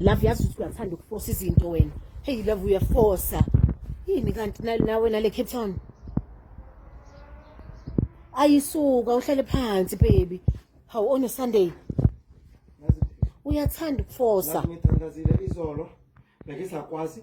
love yazi ukuthi uyathanda ukufosa izinto wena heyi love uyafosa yini kanti nawe nale cape town ayisuka uhlale phansi baby hawu on sunday uyathanda ukufosa ngithandazile izolo bengisakwazi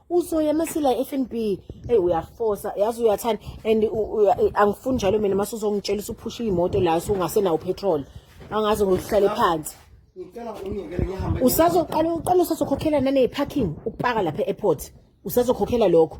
uzoya masila FNB hey uyafosa yazi uyathanda and angifuni njalo mina mase uzongitshela usuphusha imoto la usungasenawo petrol angazi ngokuhlale phansi usazoqala uqala usazokhokhela nane parking ukupaka lapha e-airport usazokhokhela lokho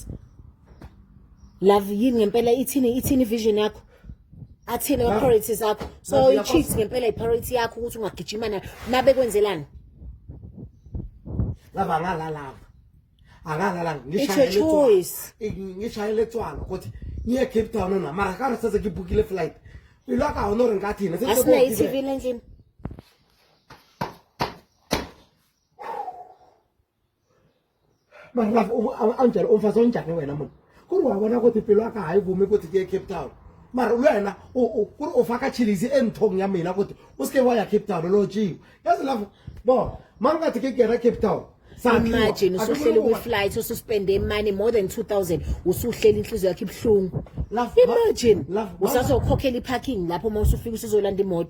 Christ love yini ngempela ithini ithini vision yakho athini ama priorities zakho so i cheat ngempela i priority yakho ukuthi ungagijima nayo nabe kwenzelani lava ngala lava akalala ngishayele tswana ukuthi ngiye cape town na mara ka re setse ke bookile flight pelo a ka gone gore nka thene Mangafu anjalo umfazi onjani wena munhu ku ri wa vona ku tipelo a ka ha yi vumi ku ti ke cape town mara wena ku ri u faka chilizi enthong ya mina kuti u sike wa ya cape town lo jiwa yazi lavo bo ma nga ti ke kera cape town imagine usuhleli kwi-flight ususpende imani more than 2000 usuhleli inhliziyo yakho ibuhlungu imagine usazokhokhela i-parking lapho uma usufika usuzolanda imoto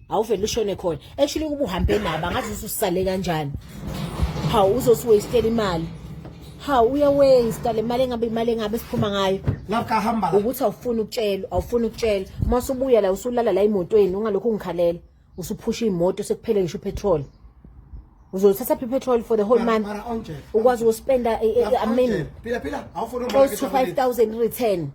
awuvele ushone khona actually kuba uhambe nabo angazi ususale kanjani hawu uzosiwastela imali hawu uyawaste le mali engabe imali engabe siphuma ngayo ngakahamba ukuthi awufuni ukutshela awufuni ukutshela uma usubuya la usulala la emotweni ungalokho ungikhalela usuphusha imoto sekuphele ngisho petrol uzothatha phi petrol for the whole month ukwazi ukuspenda a minute phila phila awufuni 5000 return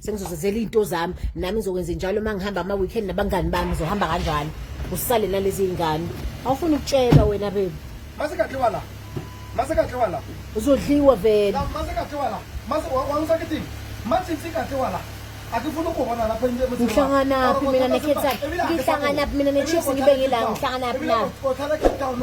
sengizozenzela iy'nto zami nami ngizokwenza njalo uma ngihamba ama-weekend nabangani bami ngizohamba kanjalo usale nalezi y'ngane awufuni ukutshela wena bebi mase kadliwa la mase kadliwa la uzodliwa vele La, mase kadliwa la mase wa- wangisakithini matsitsi kadliwa la akifuni ukubona lapha into emutini wakho. Ngihlanganaphi mina Ebile nekhetha- akhe- ngihlanganaphi mina neChiefs ngibe ngila, ngihlanganaphi Ebile na? ukhothana eCape Town,